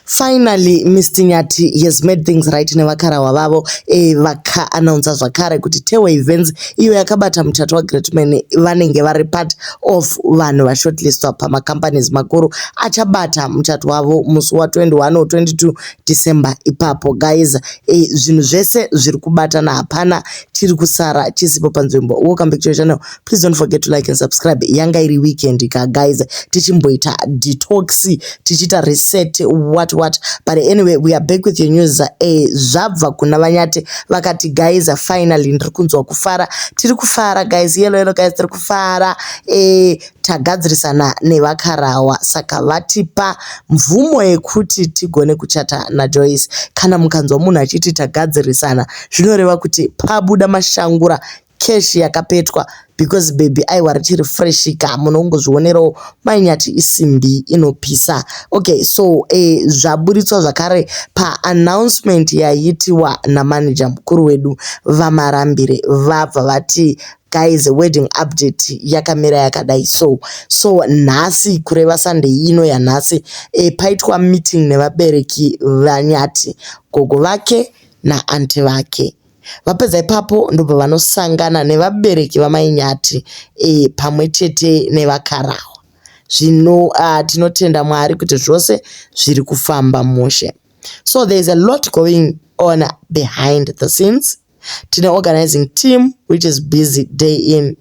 Finally Mister Nyati has made things right nevakarahwa vavo eh, vaka announcer zvakare kuti Tehwe Events iyo yakabata muchato waGreatman vanenge vari part of vanhu vashortlistwa pamacompanies makuru achabata muchato wavo musi wa21 or 22 December ipapo guys eh, zvinhu zvese zviri kubatana hapana chiri kusara chisipo panzvimbo welcome back to your channel please don't forget to like and subscribe yanga iri weekend ka guys tichimboita detox tichiita reset what what but anyway we are back with your news eh, zvabva kuna vanyati vakati guys finally ndiri kunzwa kufara tiri kufara guys yelo yelo guys tiri kufara eh, tagadzirisana nevakarawa saka vatipa mvumo yekuti tigone kuchata najoyce kana mukanzwa munhu achiti tagadzirisana zvinoreva kuti pabuda mashangura cash yakapetwa because baby aiwa richiri fresh ka munhu ongozvionerawo mai nyati isimbi inopisa okay so eh, zvaburitswa zvakare paannouncement yaiitiwa namanager mukuru wedu vamarambire vabva vati guys wedding update yakamira yakadai so so nhasi kureva sunday ino yanhasi e, paitwa meeting nevabereki vanyati gogo vake naanti vake Vapedza ipapo ndobva vanosangana nevabereki vamai Nyati e, pamwe chete nevakarahwa. Zvino uh, tinotenda Mwari kuti zvose zviri kufamba mushe. So there is a lot going on behind the scenes. Tine organizing team which is busy day in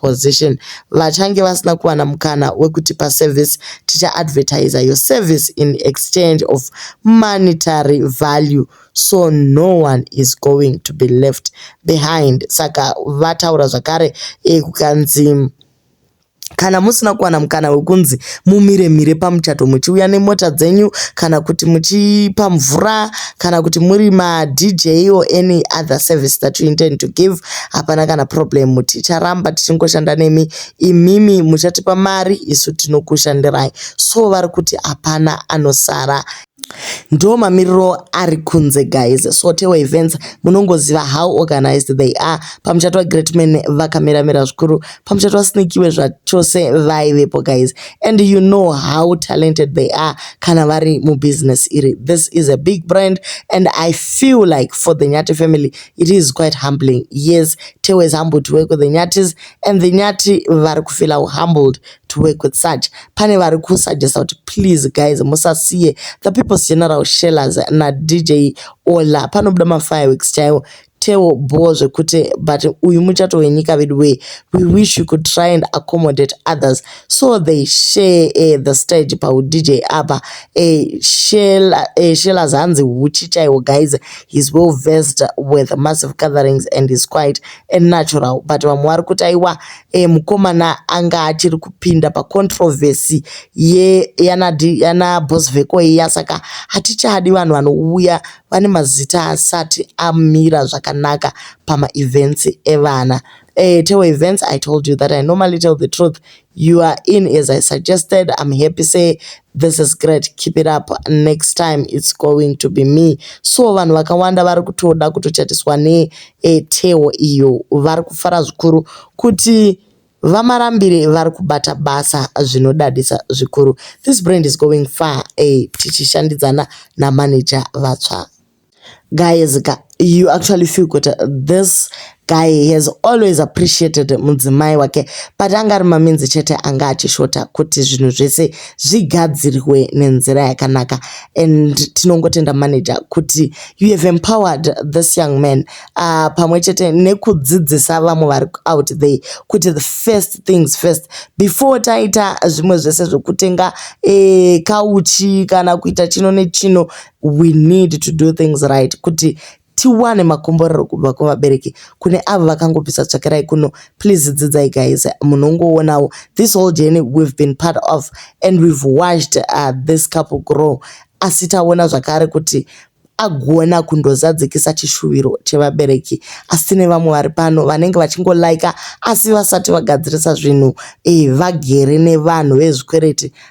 position vachange vasina kuwana mukana wekutipa service ticha advertiser your service in exchange of monetary value so no one is going to be left behind saka vataura zvakare e, kukanzi kana musina kuwana mukana wekunzi mumire mire pamuchato muchiuya nemota dzenyu kana kuti muchipa mvura kana kuti muri madj or any other service that you intend to give hapana kana problem ticharamba tichingoshanda nemi imimi muchatipa mari isu tinokushandirai so vari kuti hapana anosara ndo mamiriro ari kunze guys so tewa events munongoziva how organized they are pamuchato wagreatman vakamiramira zvikuru pamuchato wasnikiwe zvachose vaivepo guys and you know how talented they are kana vari mubusiness iri this is a big brand and i feel like for the nyati family It is quite humbling. Yes, Theo is humbled to work with the Nyatis and the Nyati vari kufila humbled to work with such. Pane vari kusuggesta kuti please guys musasiye the people's general shellers na DJ Ola panobuda ma fireworks chaiwo Theo bho zvekuti but uyu muchato wenyika veduwee we wish you could try and accommodate others so they share uh, the stage paudj apa uh, eh, shela uh, eh, shela zanzi huchi chaiwo guys he's well versed with massive gatherings and he's quite a natural but vamwe vari kuti aiwa uh, mukomana anga achiri kupinda pacontroversy ye yana, yana boss veko iya saka hatichadi vanhu vanouya vane mazita asati amira zvakanaka pamaevents evana Uh, Teo events, I told you that I normally tell the truth. You are in as I suggested. I'm happy. Say, this is great. Keep it up. Next time, it's going to be me. So, vanhu vakawanda vari kutoda kutochatiswa ne eh, Teo iyo. Vari kufara zvikuru kuti vamarambire vari kubata basa zvinodadisa zvikuru. This brand is going far. Eh, tichishandidzana namanager vatsva. Guys ka you actually feel kuti this guy has always appreciated mudzimai wake but anga ari maminzi chete anga achishota kuti zvinhu zvese zvigadzirwe nenzira yakanaka and tinongotenda manager kuti you have empowered this young man uh, pamwe chete nekudzidzisa vamwe vari out there kuti the first things first before taita zvimwe zvese zvekutenga eh, kauchi kana kuita chino nechino we need to do things right kuti tiwane makomborero kubva kuvabereki kune avo vakangobvisa tsvakirai kuno please dzidzai guys munongoonawo this whole journey we've been part of and we've watched uh, this couple grow asi taona zvakare kuti agona kundozadzikisa chishuviro chevabereki asi tine vamwe vari pano vanenge vachingolaika asi vasati vagadzirisa zvinhu e, vagere nevanhu vezvikwereti